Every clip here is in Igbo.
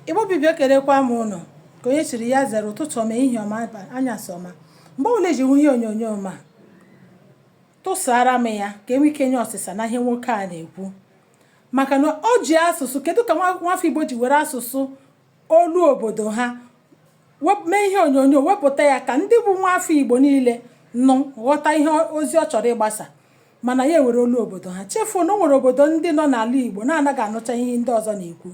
Igbo bụ Igbo ekelekwa m ụnụ nke onye chiri ya zere ụtụtụ ọma ehihie ọma anyasị ọma mgbe ọbụla i ji hụ ihe onyonyo ma tụsara m ya ka e nwee ike nye ọsịsa na ihe nwoke a na-ekwu maka na o ji asụsụ kedu ka nwafọ Igbo ji were asụsụ olu obodo ha mee ihe onyonyo wepụta ya ka ndị bụ nwafọ Igbo niile nụ ghọta ihe ozi ọ chọrọ ịgbasa mana ya ewere olu obodo ha chefuo na o nwere obodo ndị nọ n'ala Igbo na-anaghị anụcha ihe ndị ọzọ na-ekwu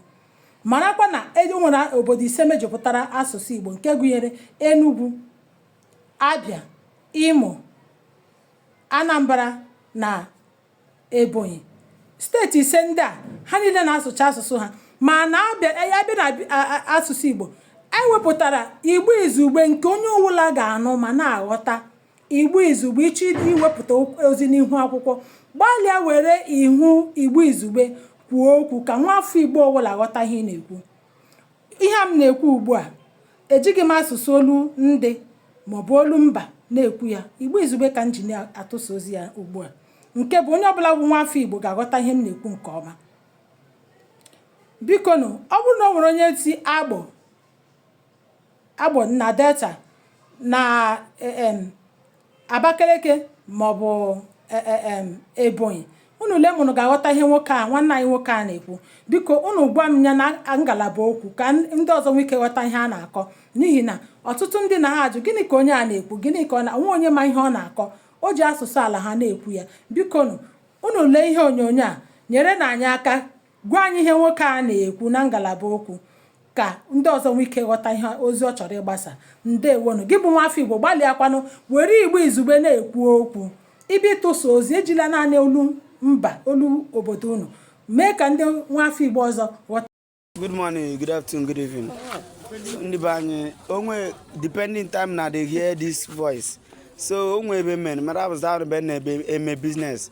marakwa na e nwere obodo ise mejupụtara asụsụ Igbo nke gụnyere Enugu Abia Imo Anambra na Ebonyi steeti ise ndị a ha niile na-asụcha asụsụ ha mana a bịa na asụsụ Igbo e wepụtara Igbo izugbe nke onye ọbụla ga-anụ ma na-aghọta Igbo izugbe, ị chọọ iwepụta ozi n'ihu akwụkwọ, gbalịa were ihu Igbo izugbe kwuo okwu ka nwa afọ Igbo ọwụla ghọta ihe ị na-ekwu. Ihe a m na-ekwu ugbu a, ejighị m asụsụ olu ndị maọbụ olu mba na-ekwu ya. Igbo izugbe ka m ji na-atụsa ozi a ugbu a. Nke bụ onye ọbụla bụ nwa afọ Igbo ga-aghọta ihe m na-ekwu nke ọma. Bikonụ, ọ bụrụ na o nwere onye si Agbọ Agbọ na Delta na um Abakeleke maọbụ um Ebonyi. Unu lee ma unu ga-aghọta ihe nwoke a nwanne anyị nwoke a na-ekwu. Biko unu gwa m ya na ngalaba okwu ka ndị ọzọ nwee ike ghọta ihe a na-akọ n'ihi na ọtụtụ ndị na-ajụ gịnị ka onye a na-ekwu gịnị ka ọ na onwe onye ma ihe ọ na-akọ o ji asụsụ ala ha na-ekwu ya. Bikonu, unu lee ihe onyonyo a nyerenụ anyị aka Gwa anyị ihe nwoke a na-ekwu na ngalaba okwu ka ndị ọzọ nwee ike ghọta ihe ozi ọ chọrọ ịgbasa. Ndewonụ. Gị bụ nwafọ Igbo, gbalịakwanụ were Igbo izugbe na-ekwu okwu. Ị bịa ịtụsa ozi, ejila naanị olu mba, olu obodo unu. Mee ka ndị nwafọ Igbo ọzọ ghọta. Good morning, good afternoon, good evening. Ndị be anyị, onwe depending time una dey hear this voice. So onwe ebe men, mara abụzụ ahụ ebe na-ebe eme business.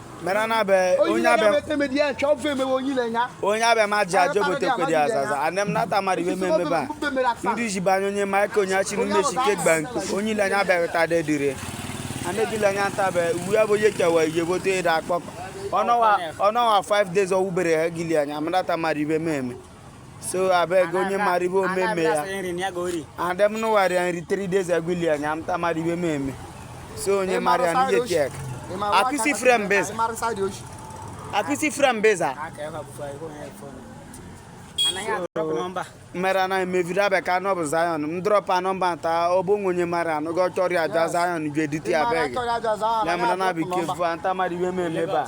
mera na be onye abịa onye abịa ma ji aja obotekwedi azaza anem nata mmadụ iwe mmemme ba ndị ji banye onye maịka onye achị n'ime chike gba nku onye ile anya abịaghịta de dire anegile anya nta be uwe ya bụ onye kewa ihe bote ịda akpọkọ ọnọwa 5 days ọwụbere ha gili anya amadata mmadụ iwe mmemme so abeg onye mara ihe omeme ya adem nụwarịa nri 3 days ago ili anya amta mara ihe meme so onye mara ya n'ihe chek akụsi frem beza akụsi frem beza mere anaghị meviri abịa ka anọ bụ Zion m drọpa nọmba nta ọ bụ nwe onye mara anụ gị ọ chọrọ ya aja Zion ga-edite ya beg ya mere na abịa ike mfu anta mara iwe m eme ebe a